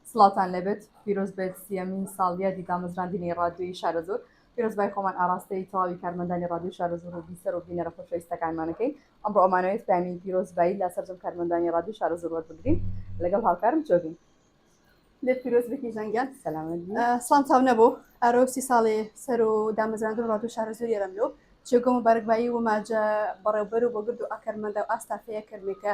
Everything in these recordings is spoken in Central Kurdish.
سڵاوتان لێبێت پیرۆز بێت سیەمین ساڵیادی دامەزراندنی ڕادیۆی شارەزوور پیرۆزبای خۆمان ئاراستەی تەواوی کارمەندانی ڕادیۆی شارەزوور و بیسەر و بینەرە خۆشەویستەکانمانەکەین ئەمڕۆ ئەمانەوێت پەیامی پیرۆزبایی لە سەرجەم کارمەندانی ڕادیۆی شارەزوور وەربگرین لەگەڵ هاوکارم جۆگین لێت پیرۆز بێت کیژان گیان سڵام چاو نەبوو ئارۆ سی ساڵی سەر و دامەزراندن ڕادیۆ شارەزوور یەرەملۆ جێگۆ مبارەکبایی و ماجە بەڕێوبەر و بۆگرد و ئاکارمەندە و ئاستافەیە کەرمێکە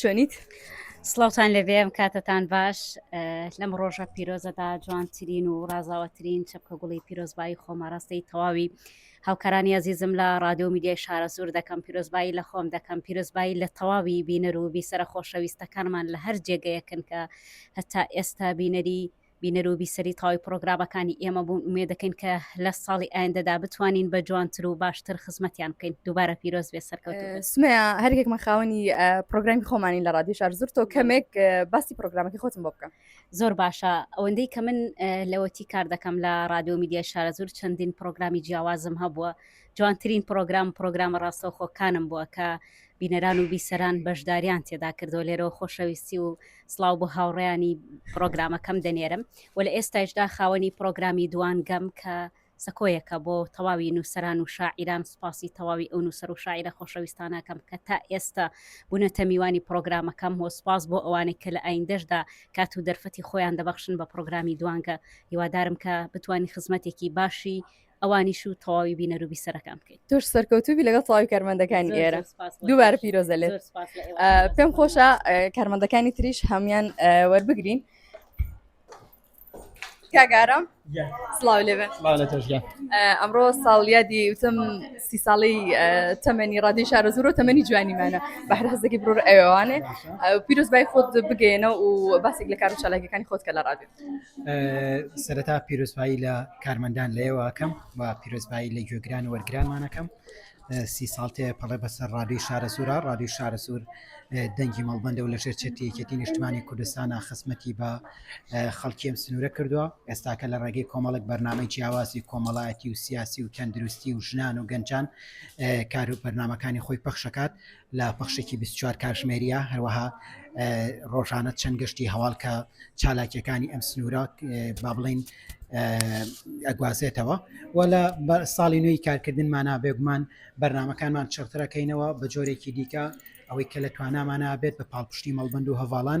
چۆنیت سڵاوان لەبێ ئەم کاتتان باش لەم ڕۆژە پیرۆزەدا جوانترین و ڕازاوەترین چەپکە گوڵی پیرۆزبایی خۆماڕاستی تەواوی هاوکارانی ئازیزم لە ڕادیۆ میدیای شارە سوور دەکەم پیرۆزبایی لە خۆم دەکەم پیرۆزبایی لە تەواوی بینەر و بیسەرە خۆشەویستەکانمان لە هەر جێگەیەکن کە هەتا ئێستا بینەری بینەر و بیسەری تەواوی پڕۆگرامەکانی ئێمە بوون، ئومێد دەکەین کە لە ساڵی ئایندەدا بتوانین بە جوانتر و باشتر خزمەتیان بکەین، دووبارە پیرۆز بێت سەرکەوتوو بن. سمەیا هەر یەکێکمان خاوەنی پڕۆگرامی خۆمانین لە ڕادیۆ شارزور، تۆ کەمێک باسی پڕۆگرامەکەی خۆتم بۆ بکە. زۆر باشە، ئەوەندەی کە من لەوەتی کار دەکەم لە ڕادیۆ و میدیای شارەزوور چەندین پڕۆگرامی جیاوازم هەبووە، جوانترین پڕۆگرام پڕۆگرامە ڕاستەوخۆکانم بووە کە بینەران و بیسەران بەشدارییان تێدا کردووە، لێرەوە خۆشەویستی و سڵاو بۆ هاوڕێیانی پرۆگرامەکەم دەنێرم و لە ئێستایشدا خاوەنی پرۆگرامی دوان گەم کە سەکۆیەکە بۆ تەواوی نووسران و شاعیران سوپاسی تەواوی ئەو نووسەر و شاعرە خۆشەویستانەکەم کە تا ئێستا بوونەتە میوانی پرۆگرامەکەم هۆ سوپاس بۆ ئەوانێک کە لە ئایندەشدا کات و دەرفەتی خۆیان دەبەخشن بە پرۆگرامی دوانگە هیوادارم کە بتانی خزمەتێکی باشی ئەوانیش و تەواوی بینەر و بیسەرەکان بکەیت تۆش سەرکەوتوبی لەگەڵ تەواوی کارمەندەکانی ئێرە دووبارە پیرۆزە لێ پێم خۆشە کارمەندەکانی تریش هەمان وەربگرین کاگارم سلااو لێ ئەمڕۆ ساڵیادی وتم سی ساڵی تەمەنی ڕادی شارە زۆر و تەمەنی جوانیمانە بەهر هەزێکی برۆر ئەوانێ پیرۆز بای خۆت بگەێنە و باسێک لە کار و چالاکەکانی خۆت کە لە ڕادێت سەرەتا پیرۆزبایی لە کارمەندان لەیەوەکەم و پیرۆزبایی لە گوێگران وەرگرانمانەکەم سی ساڵتێ پەڵێ بەسەر ڕادی شارە سوورە ڕادی شارە سوور دەنگی مەڵبندە و لە ژێر چێتیەکێتی نیشتمانی کوردستانە خزمەتی بە خەڵکیم سنوورە کردووە ئێستاکە لە ڕێگەی کۆمەڵک بەرنمەی جیاوازی کۆمەڵایەتی و سیاسی و تەندروستی و ژنان و گەنجان کار و بەرنمەکانی خۆی پەخشەکات لە پەخشێکی بیست و چوار کاتژمێرییە، هەروەها ڕۆژانە چەند گەشتی هەواڵ کە چالاکییەکانی ئەم سنوورە با بڵێین ئەگوازێتەوە و لە ساڵی نوێی کارکردنمانە بێگومان بەرنمەکانمان چڕترەکەینەوە بە جۆرێکی دیکە ئەوەی کە لە توانامانە بێت بە پاڵپشتی مەڵبند و هەواڵان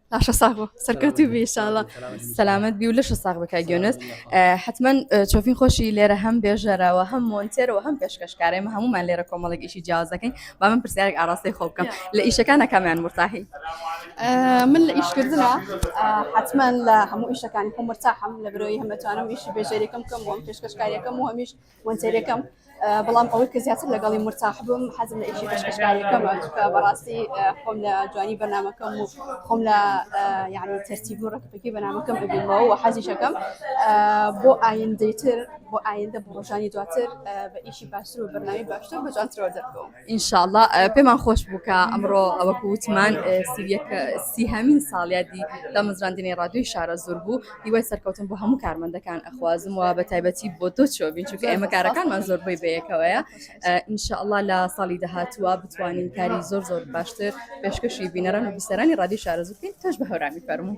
لاشە ساغ بۆ سەرکەوتوو بی ئیشاڵڵا سەلامت بی و لەشە ساغ بە کاک یۆنس ئە، حتمما ئە، چۆفین خۆشی لێرە هەم بێژەرەوە هەم مۆنتێرەوە هەم پێشکەشکارە ئێمە هەموومان لێرە کۆمەڵێک ئیشی جیاواز دەکەین با من پرسیارێک ئاڕاستەی خۆ بکەم لە ئیشەکانە کامیان مرتاحی ئە، من لە ئیشکردنا ئە، حتمما لە هەموو ئیشەکانی خۆم مرتاحم لە برۆی هەم ئەتوانم ئیشی بێژەریەکەم بکەم و هەم پێشکەشکاریەکەم و هەمیش مۆنتێرێکەم بەڵام ئەوەی کە زیاتر لەگەڵی مرتاح بووم حەزم لە ئیشی پێشکەشکاریەکەمە چونکە بەڕاستی خۆم لە جوانی بەنامەکەم و خۆم لە یعنی تەرتیب و ڕکپەکی بەنامەکەم ببینمەوە و حەزیشەکەم بۆ ئایندەتر بۆ ئایندە بۆ ڕۆژانی دواتر بە ئیشی باشتر و بەرنامی باشتر بە جوانترەوە دەرکەوم. ئینشاءاللە پێمان خۆش بوو کە ئەمڕۆ ئەوەکو وتمان سیهمین ساڵیادی دامەزراندنی ڕادوی شارە زۆر بوو هیوای سەرکەوتن بۆ هەموو کارمەندەکان ئەخوازم و بە تایبەتی بۆ تۆ چۆبین چونکە ئێمە کارەکانمان زۆربەی بەیەکەوەیە ئینشاءاللە لە ساڵی داهاتووە بتوانین کاری زۆر زۆر باشتر پێشکەشی بینەران و بیسەرانی ڕادی شارە زوکەین تۆش بە هەورامی فەرموو.